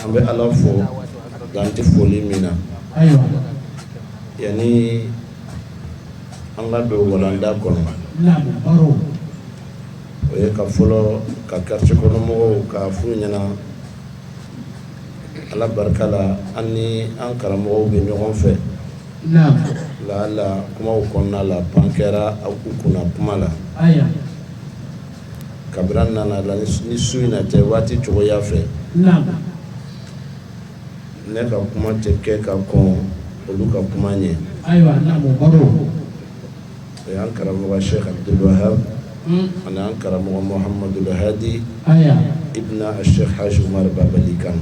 An bɛ Ala fo dan tɛ foli min na, ayiwa, yanni an ka don walanda kɔnɔ, naamu, baro, o ye ka fɔlɔ ka quartier kɔnɔ mɔgɔw ka f'u ɲɛna Ala barika la an ni an karamɔgɔw bɛ ɲɔgɔn fɛ, naamu, lala kumaw kɔnɔna la pan kɛra u kunna kuma la, ayiwa. kabini an nana la ni su in cɛ waati cogoya fɛ ne ka kuma tɛ kɛ ka kɔn olu ka kuma ɲɛ ayiwa o y'an karamɔgɔ Sheikh Abdul Wahab ani an karamɔgɔ Muhammadul Hadi ibn Sheikh Haji Umar Babali Kan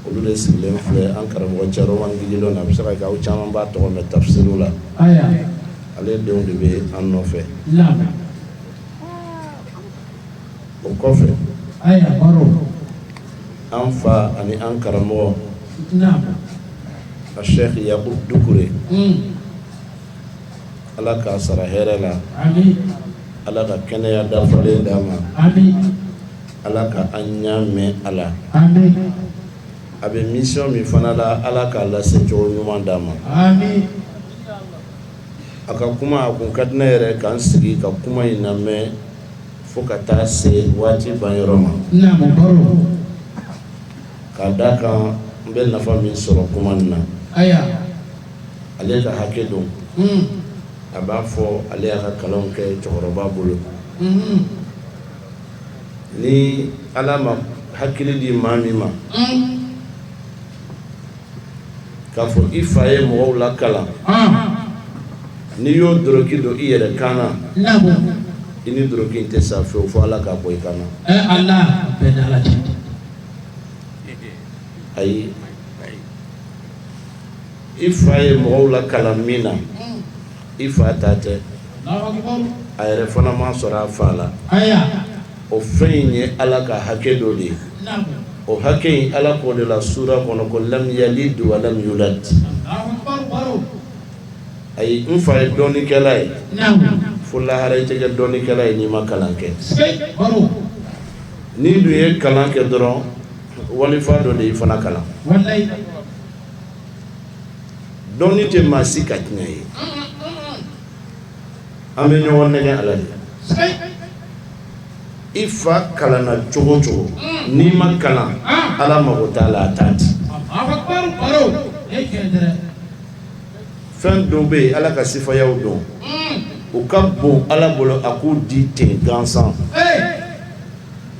olu de sigilen filɛ an karamɔgɔ Caroman Gidilon na a bɛ se ka kɛ aw caman b'a tɔgɔ mɛn tafisiri la ale denw de bɛ an nɔfɛ o kɔfɛ an fa ani an karamɔgɔ a Sheikh Yakub Dukure ala k'a sara hɛrɛ la ala ka kɛnɛya dafalen d'a ma ala ka an ɲa mɛɛn a la a bɛ mission min fana la ala k'a lase cogo ɲuman d'a ma a ka kuma a kun ka di ne yɛrɛ ka n sigi ka kuma in lamɛn fo ka taa se waati banyɔrɔ ma k'a d'a kan n bɛ nafa min sɔrɔ kuma in na ale ka hakɛ don a b'a fɔ ale y'a ka kalanw kɛ cɛkɔrɔba bolo ni ala ma hakili di maa min ma k'a fɔ i fa ye mɔgɔw lakalan, ɔnhɔn, n'i y'o dɔlɔki don i yɛrɛ kan na, naamu, i ni dɔlɔki in tɛ sa fewu fo Ala k'a bɔ i kan na, e Ala, o bɛɛ ni Ala cɛ, ayi, i fa ye mɔgɔw lakalan min na, un I fa ta tɛ a yɛrɛ fana ma sɔrɔ a fa la o fɛn in ye ala ka hakɛ dɔ de ye o hakɛ in ala k'o de la sura kɔnɔ ko lam yalid wa lam yulad ayi n fa ye dɔnnikɛla ye fo lahara i tɛ kɛ dɔnnikɛla ye n'i ma kalan kɛ n'i dun ye kalan kɛ dɔrɔn wali fa dɔ de y'i fana kalan Dɔnni tɛ maa si ka tiɲɛ ye an bɛ ɲɔgɔn nɛgɛn a la de i fa kalanna cogo o cogo n'i ma kalan ala mako t'a la a t'a di fɛn dɔw bɛ yen ala ka sifayaw don u ka bon ala bolo a k'u di ten gansan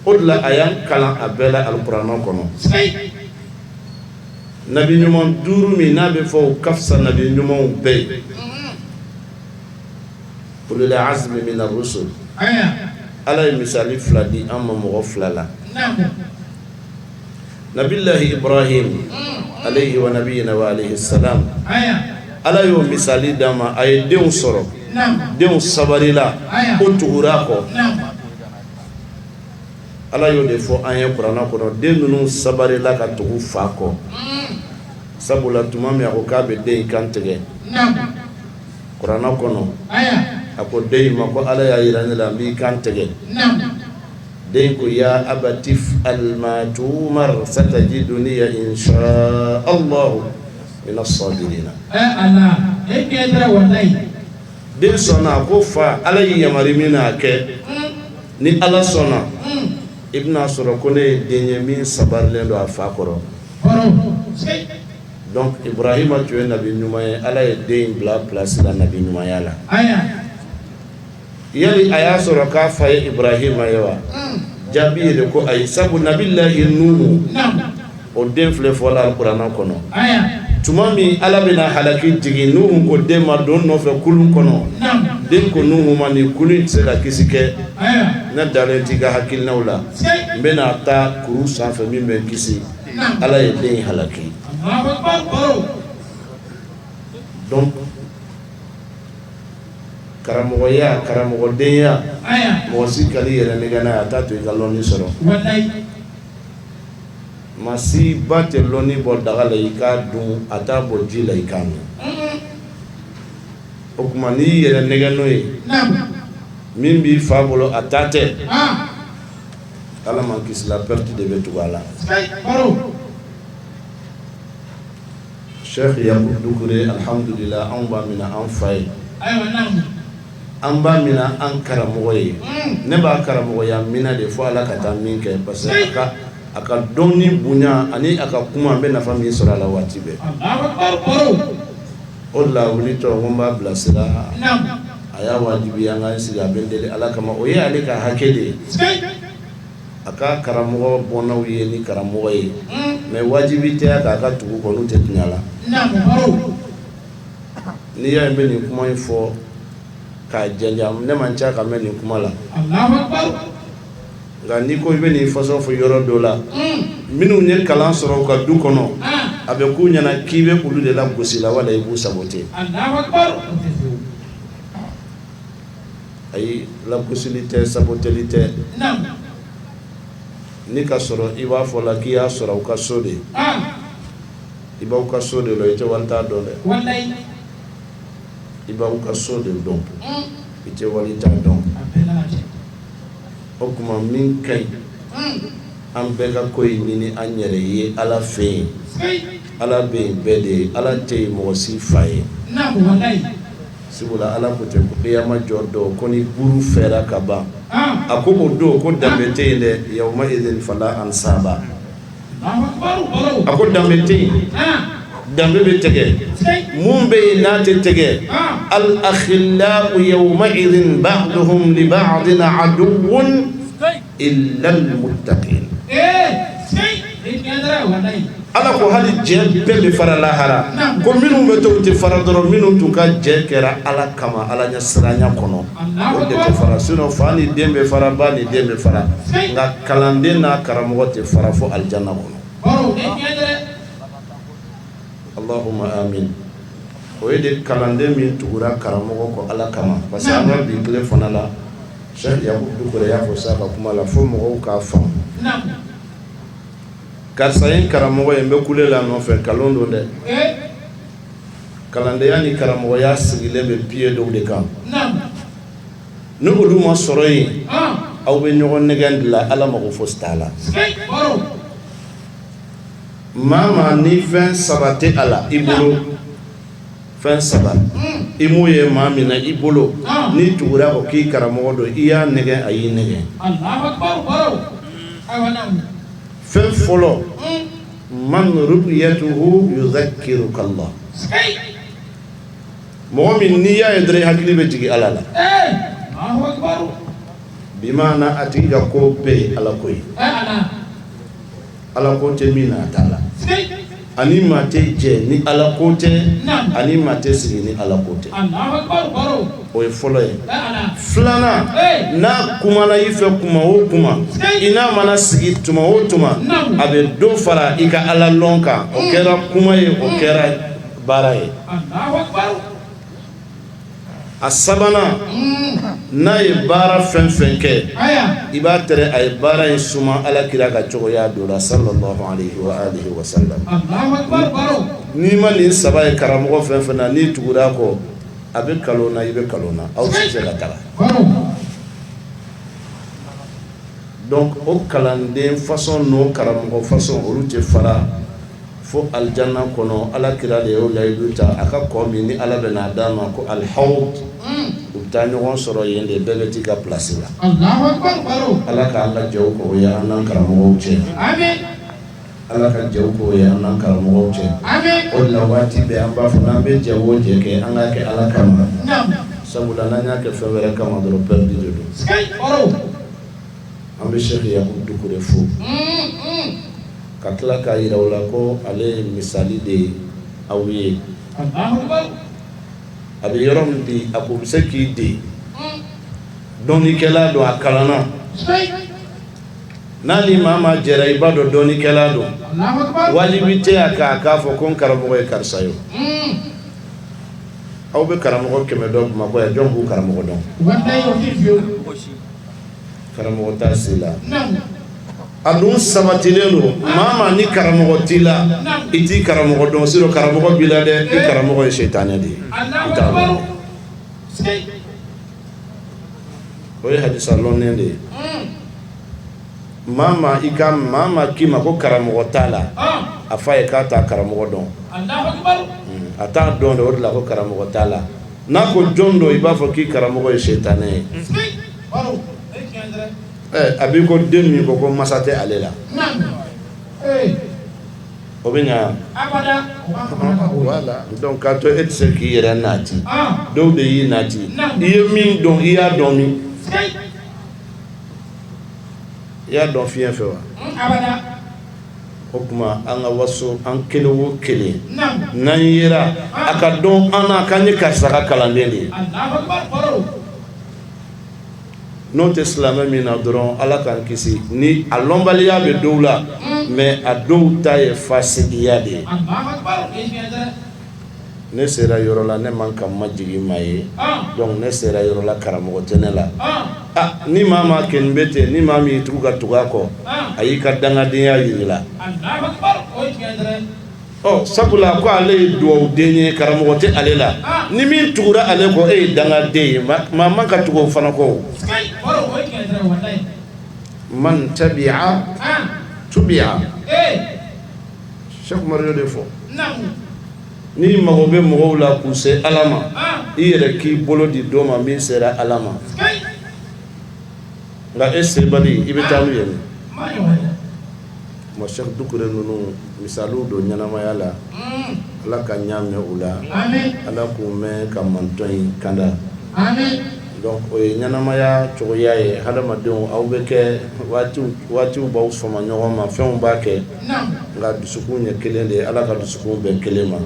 o de la a y'an kalan a bɛɛ la alikuranɛ kɔnɔ nabi ɲuman duuru min n'a bɛ fɔ ka fisa nabi ɲumanw bɛɛ ye ulul azmi mina rusul ala ye misali fila di an ma mɔgɔ fila la nabilayi Ibrahim alayhi wa nabiyina wa alayhi salam ala y'o misali d'a ma a ye denw sɔrɔ denw sabarila u tugura a kɔ Ala y'o de fɔ an ye kuranɛ kɔnɔ den ninnu sabarila ka tugu fa kɔ, un, sabula tuma min a ko k'a bɛ den in kan tigɛ, naamu, kuranɛ kɔnɔ, aya, a ko den in ma ko Ala y'a jira ne la n b'i kan tigɛ, naamu, den in ko yaa abati if'al maa tu'umar satajiduni in shaa alaah mina sɔɔbirina ɛɛ Ala e kɛn tɛ walahi den sɔnna a ko fa ala y'i yamari min na a kɛ ni ala sɔnna i bɛna a sɔrɔ ko ne ye den ye min sabarilen don a fa kɔrɔ donc Ibrahima tun ye nabi ɲuman ye ala ye den bila pilasi la nabi ɲumanya la yali a y'a sɔrɔ k'a fa ye Ibrahima ye wa jaabi ye de ko ayi sabu nabilayi Nuhu o den filɛ fɔla kuranɛ kɔnɔ tuma min ala bɛna halaki jigin Nuhu ko den ma don n nɔfɛ kulun kɔnɔ den ko Nuhu ma ni kulun tɛ se ka kisi kɛ ne dalen t'i ka hakilinaw la n bɛna taa kuru sanfɛ min bɛ kisi ala ye den halaki karamɔgɔya karamɔgɔdenya mɔgɔ si kan'i yɛrɛ nɛgɛn n'a ye a t'a to i ka lɔnni sɔrɔ Maa si ba tɛ lɔnni bɔ daga la i k'a dun a t'a bɔ ji la i k'a min o tuma n'i y'i yɛrɛ nɛgɛn n'o ye min b'i fa bolo a ta tɛ ala m'an kisi la perte de bɛ tugu a la Cheikh Yakubu Dukure alihamdulila anw b'a minɛ an fa ye an b'a minɛ an karamɔgɔ ye ne b'a karamɔgɔya minɛ de fo ala ka taa min kɛ parce que a ka dɔnni bonya ani a ka kuma an bɛ nafa min sɔrɔ a la waati bɛɛ o la wulitɔ ko n b'a bilasira a y'a wajibi an ka sigi a bɛ n deli ala kama o ye ale ka hakɛ de ye a ka karamɔgɔ bɔnnaw ye ni karamɔgɔ ye mais wajibi tɛ k'a ka tugu u kɔ n'u tɛ tiɲɛ la n'i y'a ye n bɛ nin kuma in fɔ k'a janjan ne man ca ka mɛn nin kuma la nka n'i ko i bɛ nin façon fɔ yɔrɔ dɔ la minnu ye kalan sɔrɔ u ka du kɔnɔ a bɛ k'u ɲɛna k'i bɛ olu de lagosi la wala i b'u saboter ayi lagosili tɛ saboteli tɛ n'i y'a sɔrɔ i b'a fɔ la k'i y'a sɔrɔ u ka so de i b'aw ka so de la i tɛ wali ta dɔn dɛ, walahi, i b'aw ka so de dɔn, un, i tɛ wali ta dɔn, a bɛɛ n'a ta don, o tuma min ka ɲi, un, an bɛɛ ka ko in ɲini an yɛrɛ ye Ala fɛ yen, sikeyi, Ala bɛ yen bɛɛ de ye Ala tɛ yen mɔgɔ si fa ye, naamu, walahi, sabula Ala ko ten ko kiyama jɔ don ko ni buru fiyɛra ka ban, an, a ko o don ko danbe tɛ yen dɛ, yawma idin falaa ansaba a ko danbe tɛ yen danbe bɛ tigɛ mun bɛ yen n'a tɛ tigɛ al akhillau yawmaidin ba'duhum li ba'din aduwwun illa almuttaqin Ala ko hali jɛ bɛɛ bɛ fara lahara ko minnu bɛ to tɛ fara dɔrɔn minnu tun ka jɛ kɛra Ala kama Ala ɲɛ siranya kɔnɔ fara sinon fa ni den bɛ fara ba ni den bɛ fara nka kalanden n'a karamɔgɔ tɛ fara fo alijana kɔnɔ Allahumma amiina o ye de kalanden min tugura karamɔgɔ kɔ Ala kama parce que an ka bi tile fana la Sɛki Yakubu Dukure y'a fɔ sisan a ka kuma la fo mɔgɔw k'a faamu karisa ye n karamɔgɔ ye n bɛ kule la a nɔfɛ nkalon don dɛ. kalandenya ni karamɔgɔya sigilen bɛ pieds dɔw de kan, naamu, ni olu ma sɔrɔ yen, an, aw bɛ ɲɔgɔn nɛgɛn de la Ala mago fosi t'a la, sikeyi, baro, maa o maa ni fɛn saba tɛ a la i bolo, fɛn saba, un, i m'o ye maa min na i bolo, an, n'i tugura o kɔ k'i karamɔgɔ don i y'a nɛgɛn a y'i nɛgɛn, Alahu akibaru, baro, awa, naamu, fɛn fɔlɔ, un mɔgɔ min n'i y'a ye dɔrɔn i hakili bɛ jigin ala la bi maana a tigi ka ko bɛɛ ye ala ko ye ala ko tɛ min na a t'a la ani maa tɛ jɛ ni ala ko tɛ ani maa tɛ sigi ni ala ko tɛ o ye fɔlɔ ye filanan n'a kumana i fɛ kuma o kuma i n'a mana sigi tuma o tuma a bɛ dɔ fara i ka ala lɔn kan o kɛra kuma ye o kɛra baara ye a sabanan n'a ye baara fɛn fɛn kɛ i b'a tɛrɛ a ye baara in suma ala kira ka cogoya dɔ la sallallahu alaihi wa sallam n'i ma nin saba ye karamɔgɔ fɛn fɛn na n'i tugura a kɔ A bɛ kalon na i bɛ kalon na aw tɛ se ka kalan donc o kalanden façon n'o karamɔgɔ façon olu tɛ fara fo alijana kɔnɔ Ala kira de y'o layidu ta a ka kɔ min ni Ala bɛn'a d'a ma ko al hawudu unn u bɛ taa ɲɔgɔn sɔrɔ yen de bɛɛ bɛ t'i ka place la Alahu akibaru Ala k'an ka jɛw k'o y'an n'an karamɔgɔw cɛ aamina Ala ka jɛ k'o ye an n'an karamɔgɔw cɛ o de la waati bɛɛ an b'a fɔ n'an bɛ jɛ o jɛ kɛ an k'a kɛ ala kama sabula n'an y'a kɛ fɛn wɛrɛ kama dɔrɔn perdu de don an bɛ Cheikh Yakubu Dukure fo ka tila k'a yira u la ko ale ye misali de ye aw ye a bɛ yɔrɔ min bi a ko bɛ se k'i den dɔnnikɛla dɔn a kalan n'a ni maa maa jɛra i b'a dɔn dɔnnikɛla don, Alahu akibaru, wajibi tɛ a kan a k'a fɔ ko n karamɔgɔ ye karisa ye, un, aw bɛ karamɔgɔ 100 dɔn Bamakɔ yan jɔn b'u karamɔgɔ dɔn? walahi o tɛ yen fiyew, karamɔgɔ t'a si la, naamu, a dun sabatilen don, maa o maa ni karamɔgɔ t'i la, naamu, i t'i karamɔgɔ dɔn sinon karamɔgɔ b'i la dɛ, i karamɔgɔ ye sitanɛ de ye, i t'a dɔn. Alahu akibaru, sikeyi o ye hadisa lɔnnen de ye maa maa i ka maa maa k'i ma ko karamɔgɔ t'a la a fɔ a ye k'a t'a karamɔgɔ dɔn a t'a dɔn o de la ko karamɔgɔ t'a la n'a ko jɔn don i b'a fɔ k'i karamɔgɔ ye sitanɛ ye a b'i ko den min ko ko mansa tɛ ale la O bɛ ɲɛ wa donc a to e tɛ se k'i yɛrɛ naati dɔw de y'i naati i ye min dɔn i y'a dɔn min i y'a dɔn fiɲɛ fɛ wa o tuma an ka waso an kelen wo kelen n'an yera a ka dɔn an na k'an ye karisa kalanden de ye n'o tɛ silamɛ min na dɔrɔn ala k'an kisi ni a lɔnbaliya bɛ dɔw la mais a dɔw ta ye fasigiya de ye ne sera yɔrɔ la ne man ka n majigin maa ye donc ne sera yɔrɔ la karamɔgɔ tɛ ne la ni maa maa kɛnen bɛ ten ni maa min y'i tugu ka tugu a kɔ a y'i ka dangadenya yira i la Ɔ sabula ko ale ye dugawu den ye karamɔgɔ tɛ ale la ni min tugura ale kɔ e ye danga den ye maa man ka tugu o fana kɔ man tabi'a tubi'a Cheikh Umar y'o de fɔ ni mago bɛ mɔgɔw la k'u se ala ma i yɛrɛ k'i bolo di dɔ ma min sera ala ma nka e sebali i bɛ taa n'u ye min ma Cheikh Dukure ninnu misali don ɲɛnamaya la ala k'an ɲɛ mɛn u la ala k'u mɛn ka mantɔn in kanda donc o ye ɲɛnamaya cogoya ye hadamadenw aw bɛ kɛ waatiw b'aw sama ɲɔgɔn ma fɛnw b'a kɛ nka dusukun ye kelen de ye ala ka dusukun bɛn kelen ma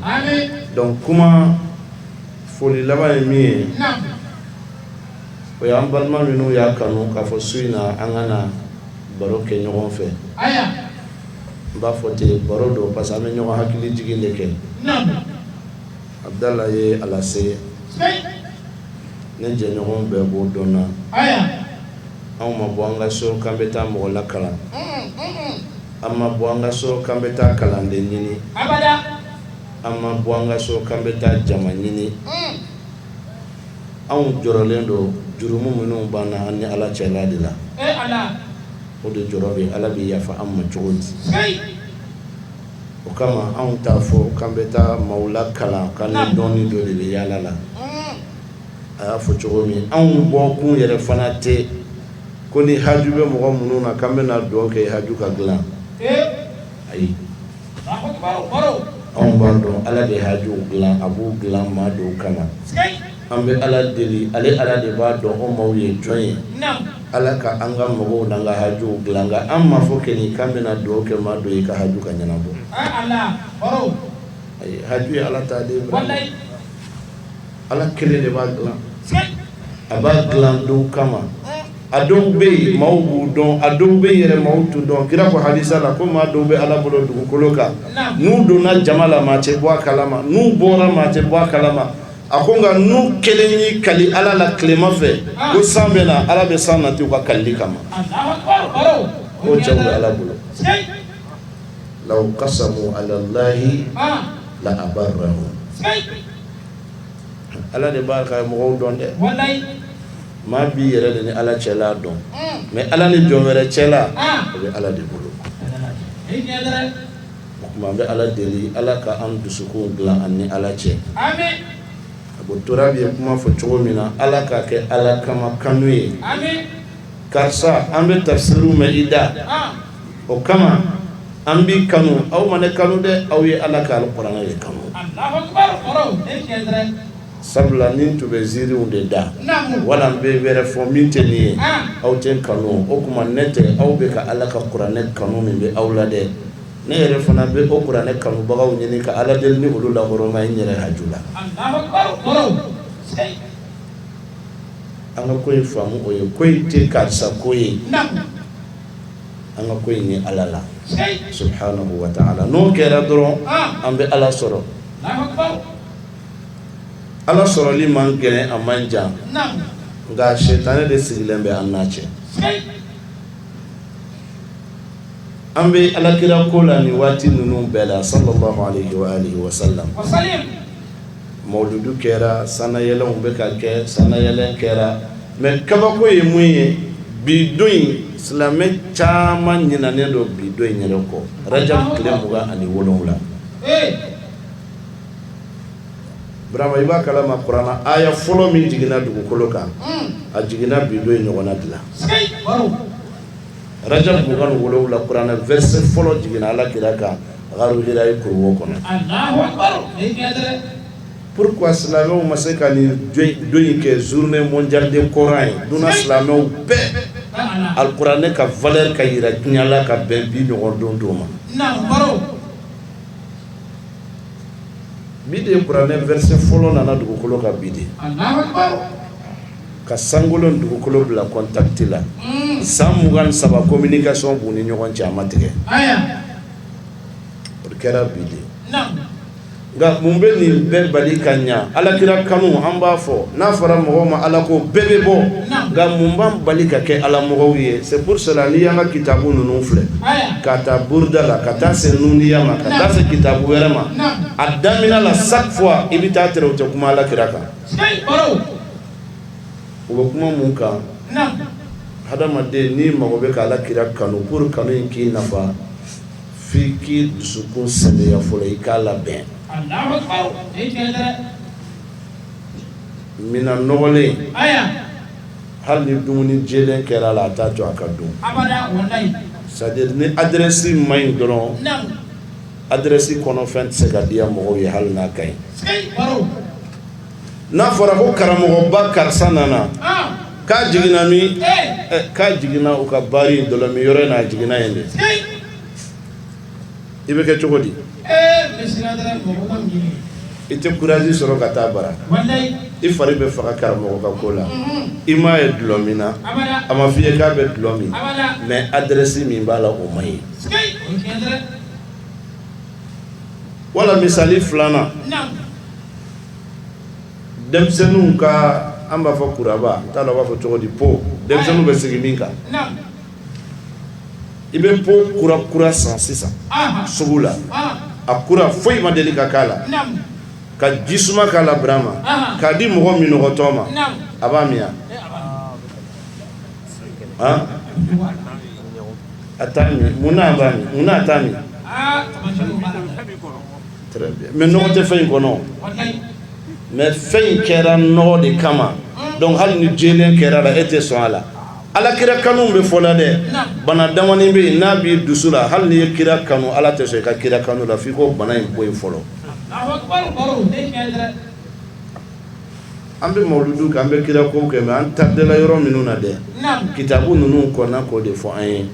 donc kuma foli laban ye min ye O y'an balima minnu y'a kanu k'a fɔ su in na an ka na baro kɛ ɲɔgɔn fɛ n b'a fɔ ten baro don parce que an bɛ ɲɔgɔn hakili jigin de kɛ Abdala ye a lase ne jɛɲɔgɔn bɛɛ b'o dɔn n na anw ma bɔ an ka so k'an bɛ taa mɔgɔ lakalan an ma bɔ an ka so k'an bɛ taa kalanden ɲini an ma bɔ an ka so k'an bɛ taa jama ɲini anw jɔrɔlen don jurumu minnu b'an na an ni ala cɛla de la o de jɔrɔ bɛ ala bɛ yafa an ma cogo di o kama anw t'a fɔ k'an bɛ taa maaw lakalan k'an ni dɔnni dɔ de bɛ yaala la a y'a fɔ cogo min anw bɔkun yɛrɛ fana tɛ ko ni haju bɛ mɔgɔ minnu na k'an bɛna dugawu kɛ haju ka dilan ayi Anw b'a dɔn ala de hajuw dilan a b'u dilan maa dɔw kama an bɛ ala deli ale ala de b'a dɔn o maaw ye jɔn ye ala ka an ka mɔgɔw n'an ka hajuw dilan nka an ma fɔ kɔni k'an bɛna dugawu kɛ maa dɔ ye ka haju ka ɲɛnabɔ haju ye ala ta Ala kelen de b'a dilan a b'a dilan dɔw kama a dɔw bɛ yen maaw b'u dɔn a dɔw bɛ yɛrɛ maaw t'u dɔn kira ko hadisa la ko maa dɔw bɛ ala bolo dugukolo kan n'u donna jama la maa tɛ bɔ a kalama n'u bɔra maa tɛ bɔ a kalama a ko nka n'u kelen y'i kali ala la tilema fɛ ko san bɛ na ala bɛ san nati u ka kalili kama o cɛw bɛ ala bolo law aqsama ala allahi la a' Ala de b'a ka mɔgɔw dɔn dɛ maa b'i yɛrɛ de ni ala cɛla dɔn mais ala ni jɔn wɛrɛ cɛla o bɛ ala de bolo o tuma an bɛ ala deli ala ka an dusukun dilan an ni ala cɛ a ko tora bɛɛ ye kuma fɔ cogo min na ala k'a kɛ ala kama kanu ye karisa an bɛ tafsiri mɛn i da o kama an b'i kanu aw ma ne kanu dɛ aw ye ala ka alikuranɛ de kanu Alahu akbar kɔrɔ o ye tiɲɛ ye dɛrɛ sabula ni n tun bɛ ziiriw de da naamu wala n bɛ wɛrɛ fɔ min tɛ nin ye an aw tɛ n kanu o tuma ne tɛ aw bɛ ka ala ka kuranɛ kanu min bɛ aw la dɛ ne yɛrɛ fana bɛ o kuranɛ kanubagaw ɲini ka ala deli ni olu la hɔrɔma n yɛrɛ haju la Alahu akbar kɔrɔ o sɛyi an ka ko in faamu o ye ko in tɛ karisa ko ye naamu an ka ko in ye ala la subhanahu wa ta'ala n'o kɛra dɔrɔn an bɛ ala sɔrɔ ala sɔrɔli man gɛlɛn a man jan nka sɛtanɛ de sigilen bɛ an n'a cɛ an bɛ alakira ko la nin waati ninnu bɛɛ la sa mawuludu kɛra sanayɛlɛnw bɛ ka kɛ sanayɛlɛn kɛra mɛ kabako ye mun ye bi don in silamɛ caman ɲinɛnen don bi don in yɛrɛ kɔ Rajab tile mugan ani wolonwula Burama i b'a kalama kurana aya fɔlɔ min jiginna dugukolo kan a jiginna bi don in ɲɔgɔn na de la Rajab mugan ni wolonwula kuranɛ verset fɔlɔ jiginna ala kira kan Gharu Hira kuruwo kɔnɔ pourquoi silamɛw ma se ka nin don in kɛ journée mondiale de Coran ye duniya silamɛw bɛɛ alikuranɛ ka valeur ka jira diɲɛ la ka bɛn bi ɲɔgɔn don don ma bi de ye kuranɛ verset fɔlɔ nana dugukolo kan bi de ka sankolo ni dugukolo bila contact la san mugan ni saba communication b'u ni ɲɔgɔn cɛ a ma tigɛ o kɛra bi de nka mun bɛ nin bɛɛ bali ka ɲɛ ala kira kanu an b'a fɔ n'a fɔra mɔgɔ ma ala ko bɛɛ bɛ bɔ nka mun b'an bali ka kɛ ala mɔgɔw ye c'est pour cela n'i y'an ka kitabu ninnu filɛ ka taa Burda la ka taa se Nuniya ma ka taa se kitabu wɛrɛ ma a daminɛ la chaque fois i bɛ taa tɛrɛ u tɛ kuma ala kira kan u bɛ kuma mun kan hadamaden n'i mago bɛ ka ala kira kanu pour kanu in k'i nafa fo i k'i dusukun saniya fɔlɔ i k'a labɛn minɛn nɔgɔlen hali ni dumuni jɛlen kɛra a la a t'a to a ka dun c'est-à-dire ni adresi ma ɲi dɔrɔn adresse kɔnɔ fɛn tɛ se ka diya mɔgɔw ye hali n'a ka ɲi, sikeyi, baro, n'a fɔra ko karamɔgɔba karisa nana, an, k'a jiginna min? Ee, k'a jiginna u ka baari in dɔlɔmin yɔrɔ in na a jiginna yen de, sikeyi, i bɛ kɛ cogo di? Ee monsieur l'adra mɔgɔ man di ne ye, i tɛ courage sɔrɔ ka taa bara, walayi, i fari bɛ faga karamɔgɔ ka ko la, unhun, i m'a ye dɔlɔ min na, abada, a ma f'i ye k'a bɛ dɔlɔ min, abada, mais adresse min b'a la o man ɲi Wala misali filanan denmisɛnninw ka an b'a fɔ kuraba n t'a dɔn a b'a fɔ cogo di po denmisɛnninw bɛ sigi min kan i bɛ po kura kura san sisan sugu la a kura foyi ma deli ka k'a la ka ji suma k'a la Brama k'a di mɔgɔ minnɔgɔtɔ ma a b'a min A t'a min munna a b'a min munna a t'a min mais nɔgɔ tɛ fɛn in kɔnɔ mais fɛn in kɛra nɔgɔ de kama donc hali ni jɛlen kɛra la e tɛ sɔn a la ala kira kanu bɛ fɔ la dɛ bana damani bɛ yen n'a b'i dusu la hali n'i ye kira kanu ala tɛ sɔn i ka kira kanu la f'i k'o bana in bɔ yen fɔlɔ An bɛ mawuludu kɛ an bɛ kira ko kɛ mais an tardela yɔrɔ minnu na dɛ kitabu ninnu kɔnna k'o de fɔ an ye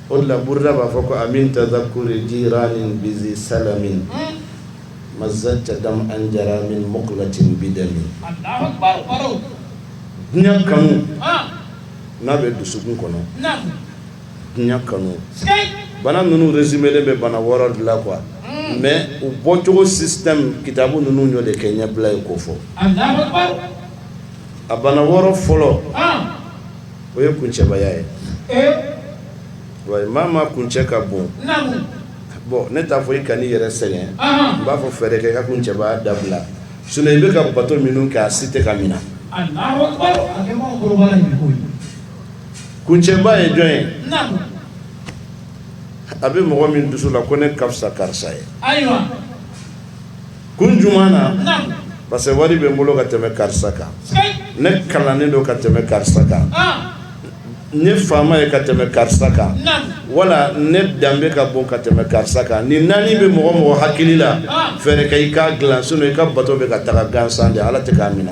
o la Burda b'a fɔ ko amin tadhakuri jiranin bizi salamin mazajta dam an jara min muqlatin bidamin diɲɛ kanu n'a bɛ dusukun kɔnɔ Diɲɛ kanu bana ninnu résumé bɛ bana wɔɔrɔ de la quoi mais u bɔcogo système kitabu ninnu y'o de kɛ ɲɛbila ye ko fɔ a bana wɔɔrɔ fɔlɔ o ye kuncɛbaya ye wa maa ma kuncɛ ka bon bon ne t'a fɔ i kana i yɛrɛ sɛgɛn n b'a fɔ fɛɛrɛ kɛ ka kuncɛbaya dabila sinon i bɛ ka bato minnu kɛ a si tɛ ka mina Kuncɛba ye jɔn ye a bɛ mɔgɔ min dusu la ko ne ka fisa karisa ye kun jumɛn na parce que wari bɛ n bolo ka tɛmɛ karisa kan ne kalannen don ka tɛmɛ karisa kan ne faama ye ka tɛmɛ karisa kan wala ne danbe ka bon ka tɛmɛ karisa kan ni naani bɛ mɔgɔ mɔgɔ hakili la fɛɛrɛ kɛ i k'a dila sinon i ka bato bɛ ka taga gansan de ala tɛ k'a minɛ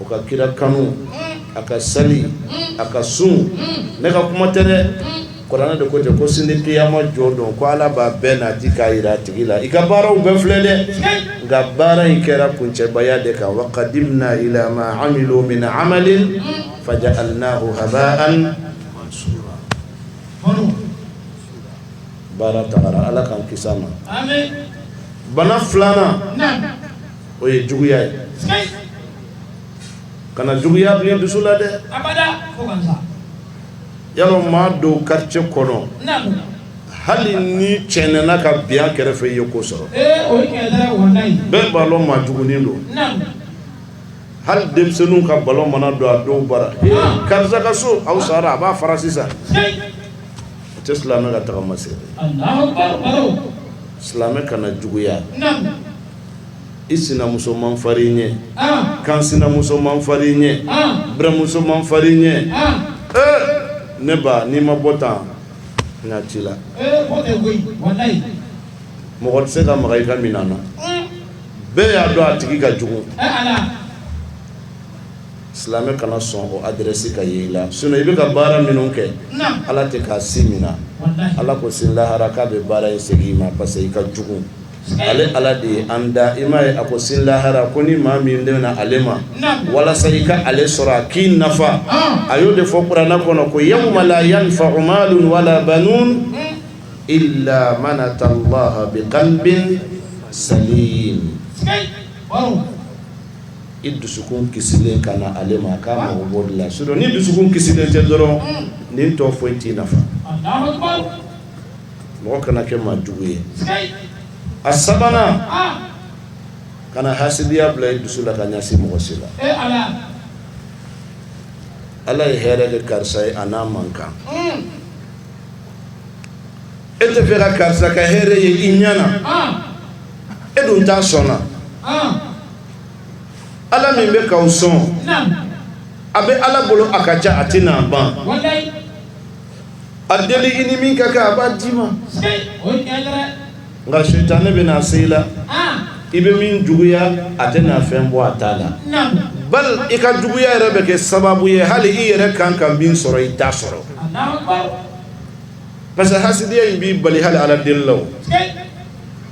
o ka kira kanu a ka sali a ka sun ne ka kuma tɛ dɛ kuranɛ de ko ten ko sini kiyama jɔ don ko ala b'a bɛɛ nati k'a yira a tigi la i ka baaraw bɛɛ filɛ dɛ nka baara in kɛra kuncɛbaya de kan wa qadimna ila ma amilu min amalin faja'alnahu haba'an mansura baara tagara ala k'an kisi a ma bana filanan o ye juguya ye kana juguya bil'i dusu la dɛ y'a lɔn maa dɔw quartier kɔnɔ hali n'i cɛnɛna ka bi a kɛrɛfɛ i ye ko sɔrɔ bɛɛ b'a lɔn maa jugunin don hali denmisɛnninw ka ballon mana don a dɔw bara karisa ka so aw sara a b'a fara sisan o tɛ silamɛ ka tagama se silamɛ kana juguya i sinamuso man farin i ɲɛ, an, kansinamuso man farin i ɲɛ, an, buranmuso man farin i ɲɛ, an, ee, ne ba n'i ma bɔ tan n ka ci la, ee k'o tɛ koyi, walahi, mɔgɔ tɛ se ka maga i ka minan na, un, bɛɛ y'a dɔn a tigi ka jugu, e Ala, silamɛ kana sɔn o adresse ka ye i la sinon i bɛ ka baara minnu kɛ, naamu, Ala tɛ k'a si mina, walahi, Ala ko sini lahara k'a bɛ baara in segin i ma parce que i ka jugu Ale ala de ye an da i m'a ye a ko sini lahara ko ni maa min de na ale ma walasa i ka ale sɔrɔ a k'i nafa a y'o de fɔ kuranɛ kɔnɔ ko yawma la yanfa'u malun wala banun illa man ata allaha biqalbin salim i dusukun kisilen ka na ale ma k'a mago b'o de la sinon ni dusukun kisilen tɛ dɔrɔn nin tɔ foyi t'i nafa mɔgɔ kana kɛ maa jugu ye, sikeyi, a sabanan, an, kana hasidiya bila i dusu la ka ɲɛsin mɔgɔ si la, e Ala, Ala ye hɛrɛ kɛ karisa ye a n'a man kan, un, e tɛ fɛ ka karisa ka hɛrɛ ye i ɲɛ na, an, e dun t'a sɔnna, an, Ala min bɛ k'aw sɔn, naamu, a bɛ Ala bolo a ka ca a tɛna ban, walayi A deli i ni min ka kan a b'a d'i ma nka sitanɛ bɛ na se i la i bɛ min juguya a tɛ na fɛn bɔ a ta la bal i ka juguya yɛrɛ bɛ kɛ sababu ye hali i yɛrɛ kan ka min sɔrɔ i t'a sɔrɔ parce que hasidiya in b'i bali hali ala deli la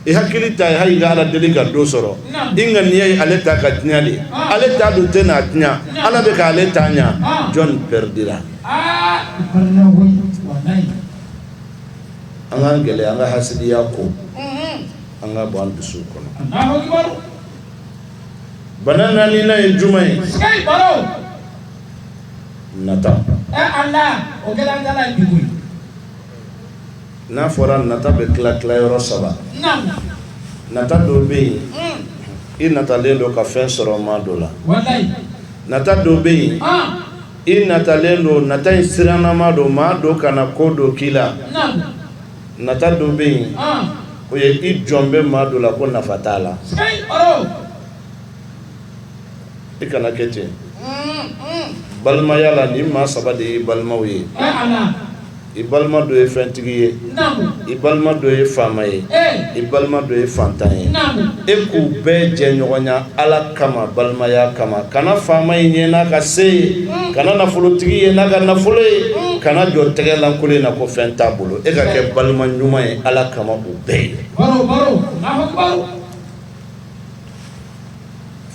i hakili ta ye hali i ka ala deli ka dɔ sɔrɔ i ŋaniya ye ale ta ka tiɲɛ de ale ta dun tɛ na tiɲɛ ala bɛ ka ale ta ɲɛ jɔn pɛridira an k'an gɛlɛya an ka hasidiya ko an k'a bɔ an dusu kɔnɔ bana naaninan ye jumɛn ye nata n'a fɔra nata bɛ tila tila yɔrɔ saba nata dɔ bɛ yen i natalen don ka fɛn sɔrɔ maa dɔ la nata dɔ bɛ yen i natalen don nata in sirannama don maa dɔ kana ko dɔ k'i la nata dɔ bɛ yen o ye i jɔn bɛ maa dɔ la ko nafa t'a la i kana kɛ ten balimaya la ni maa saba de ye balimaw ye i balima dɔ ye fɛntigi ye i balima dɔ ye faama ye i balima dɔ ye fantan ye e k'u bɛɛ jɛɲɔgɔnya ala kama balimaya kama kana faama in ye n'a ka se ye kana nafolotigi ye n'a ka nafolo ye kana jɔ tɛgɛlankolon in na ko fɛn t'a bolo e ka kɛ balima ɲuman ye ala kama u bɛɛ ye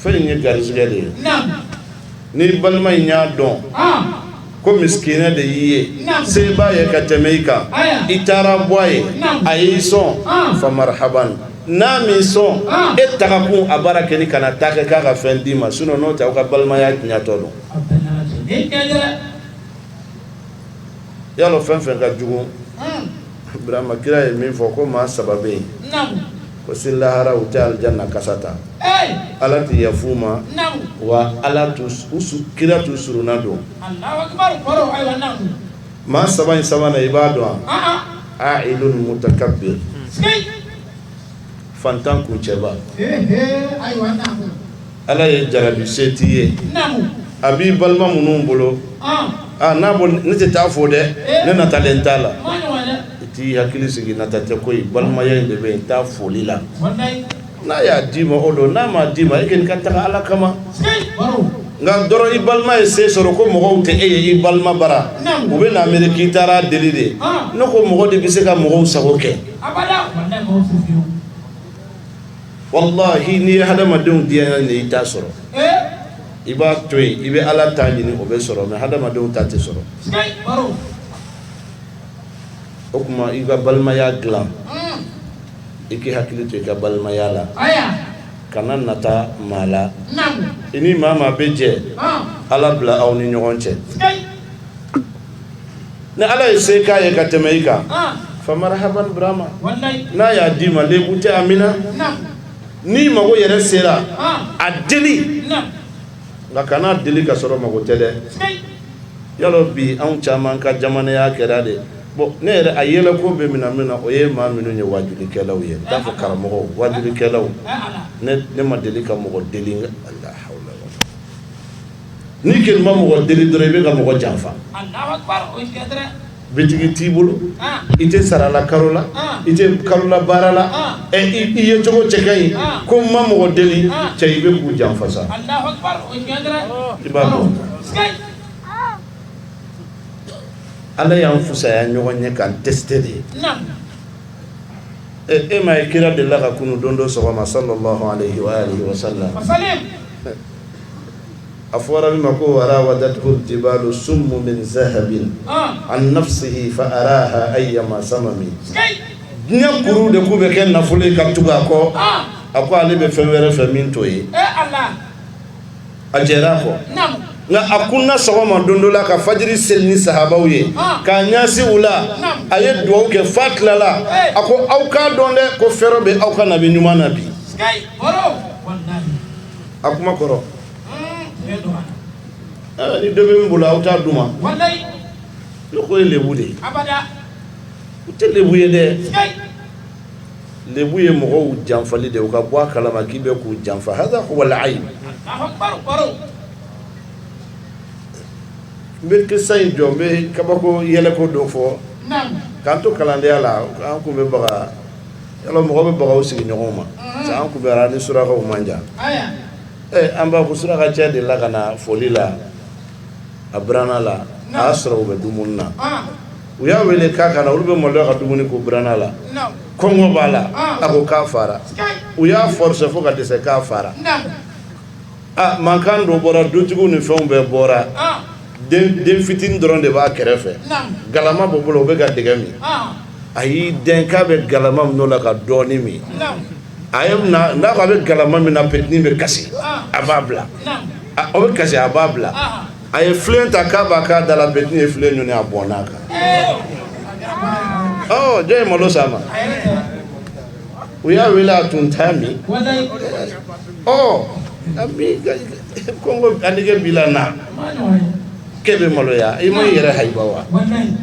Fɛn in ye garisɛgɛ de ye ni balima in y'a dɔn ko misikinɛ de y'i ye se b'a ye ka tɛmɛ i kan i taara bɔ a ye a y'i sɔn fa marhaba n'a m'i sɔn e taga kun a baara kɛ ni kana taa kɛ k'a ka fɛn d'i ma sinɔn n'o tɛ aw ka balimaya tiɲɛtɔ don i y'a dɔn fɛn fɛn ka jugu Burama kira ye min fɔ ko maa saba bɛ yen ko sini lahara u tɛ alijana kasa ta Ala tɛ yafa u ma wa Ala kira t'u soronadon maa saba in sabanan i b'a dɔn wa Fantan kuncɛba ala ye jarabi se t'i ye a b'i balima minnu bolo n'a ne tɛ taa fo dɛ ne natalen t'a la i t'i hakili sigi nata tɛ koyi balimaya in de bɛ yen taa foli la n'a y'a d'i ma o don n'a m'a d'i ma e kɔni ka taga ala kama nka dɔrɔn i balima ye se sɔrɔ ko mɔgɔw tɛ e ye i balima bara u bɛ n'a miiri k'i taara deli de n ko mɔgɔ de bɛ se ka mɔgɔw sago kɛ Wallahi n'i ye hadamadenw diya ɲini i t'a sɔrɔ i b'a to yen i bɛ ala ta ɲini o bɛ sɔrɔ mɛ hadamadenw ta tɛ sɔrɔ o tuma i ka balimaya dilan i k'i hakili to i ka balimaya la kana nata maa la i ni maa maa bɛ jɛ ala bila aw ni ɲɔgɔn cɛ ni ala ye se k'a ye ka tɛmɛ i kan fa marhaban Burama n'a y'a d'i ma lebu tɛ a minɛ na ni mago yɛrɛ sera a deli nka kana deli ka sɔrɔ mago tɛ dɛ y'a lɔn bi anw caman ka jamanaya kɛra de bon ne yɛrɛ a yɛlɛko bɛ minɛ min na o ye maa minnu ye wajulikɛlaw ye n t'a fɔ karamɔgɔw wajulikɛlaw ne ma deli ka mɔgɔ deli N'i ko ne ma mɔgɔ deli dɔrɔn i bɛ ka mɔgɔ janfa bitigi t'i bolo i tɛ sarala kalo la i tɛ kalola baara la ɛ i yecogo cɛ ka ɲi ko n ma mɔgɔ deli cɛ i bɛ k'u janfa sa i b'a dɔn ala y'an fisaya ɲɔgɔn ye k'an tester de ɛ e m'a ye kira delila ka kunun don dɔ sɔgɔma sallallahu alayhi wa sallam a fɔra min ma ko wa rawadathu jibalu summu min zahabin an nafsihi fa araha ayyama samami diɲɛ kuru de k'u bɛ kɛ nafolo ye ka tugu a kɔ a ko ale bɛ fɛn wɛrɛ fɛ min t'o ye a jɛra a kɔ nka a kununa sɔgɔma don dɔ la ka fajiri seli ni sahabaw ye k'a ɲasin u la a ye dugawu kɛ f'a tilala a ko aw k'a dɔn dɛ ko fɛrɛ bɛ aw ka nabi ɲuman na bi a kuma kɔrɔ ni dɔ bɛ min bolo aw t'a di n ma n'u ko o ye lebu de ye o tɛ lebu ye dɛ lebu ye mɔgɔw janfali de u ka bɔ a kalama k'i bɛ k'u janfa hada huwa al-ayb n bɛ kisa in jɔ n bɛ kabako yɛlɛko dɔ fɔ k'an to kalandenya la an tun bɛ baga Y'a lɔn mɔgɔ bɛ baga u sigiɲɔgɔn ma unhun j'an Gumera ni surakaw man jan aya ee an b'a fɔ surakacɛ delila ka na foli la a birana la a y'a sɔrɔ u bɛ dumuni na ɔnh u y'a wele k'a ka na olu bɛ maloya ka dumuni k'u birana la naamu kɔngɔ b'a la ɔnh a ko k'a fara sikeyi u y'a forcer fo ka dɛsɛ k'a fara naamu Aa mankan dɔ bɔra dutigiw ni fɛnw bɛɛ bɔra den fitinin dɔrɔn de b'a kɛrɛfɛ galama b'o bolo o bɛ ka dɛgɛ min a y'i dɛn k'a bɛ galama mina o la ka dɔɔnin min a n'a ko a bɛ galama mina petini bɛ kasi a b'a bila o bɛ kasi a b'a bila a ye filen ta k'a b'a k'a da la petini ye filen ɲɔni a bɔnn'a kan jɔn ye malo s'a ma u y'a wele a tun t'a min, walahi, ɔ kɔngɔ a nege b'i la na, a ma nɔgɔ dɛ, k'e bɛ maloya i ma i yɛrɛ hayiba wa, walahi,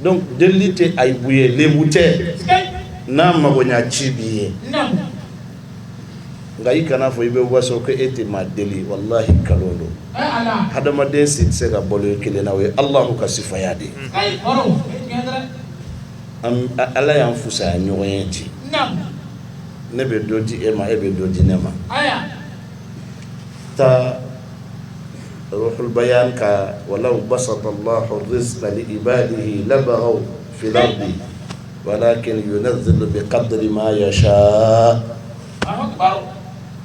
donc delili tɛ ayibu ye lebu tɛ, sikeyi, n'a magoɲɛ ci b'i ye, naamu, nka i kana fɔ i bɛ waso ko e tɛ maa deli walahi nkalon don, ee Ala, hadamaden si tɛ se ka balo i kelen na o ye Alahu ka sifaya de ye, sikeyi, o don, o ye tiɲɛ ye dɛrɛ Ala y'an fisaya ɲɔgɔn ye ten ne bɛ dɔ di e ma e bɛ dɔ di ne ma taabaya ka wala basa i la fi wala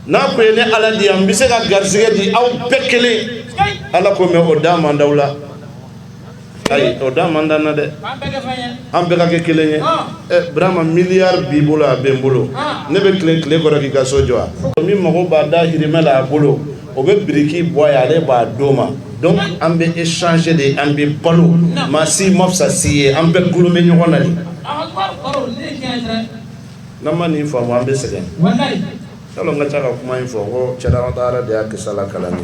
n'a ko ye ne ala di yan n bɛ se ka garisɛgɛ di aw bɛɛ kelen ala ko mɛ o da manda la ayi o da man d'an na dɛ an bɛɛ ka kɛ kelen ye ɛ burama miliyari b'i bolo a bɛ n bolo ne bɛ tile tile kɔrɔ k'i ka so jɔ wa min mago b'a dahirimɛ la a bolo o bɛ biriki bɔ a ye ale b'a d'o ma donc an bɛ échanger de an bɛ balo maa si ma fisa si ye an bɛɛ gulo bɛ ɲɔgɔn na de n'an ma nin faamu an bɛ sɛgɛn yala n ka ca ka kuma in fɔ ko cɛdalataara de y'a kisala kalani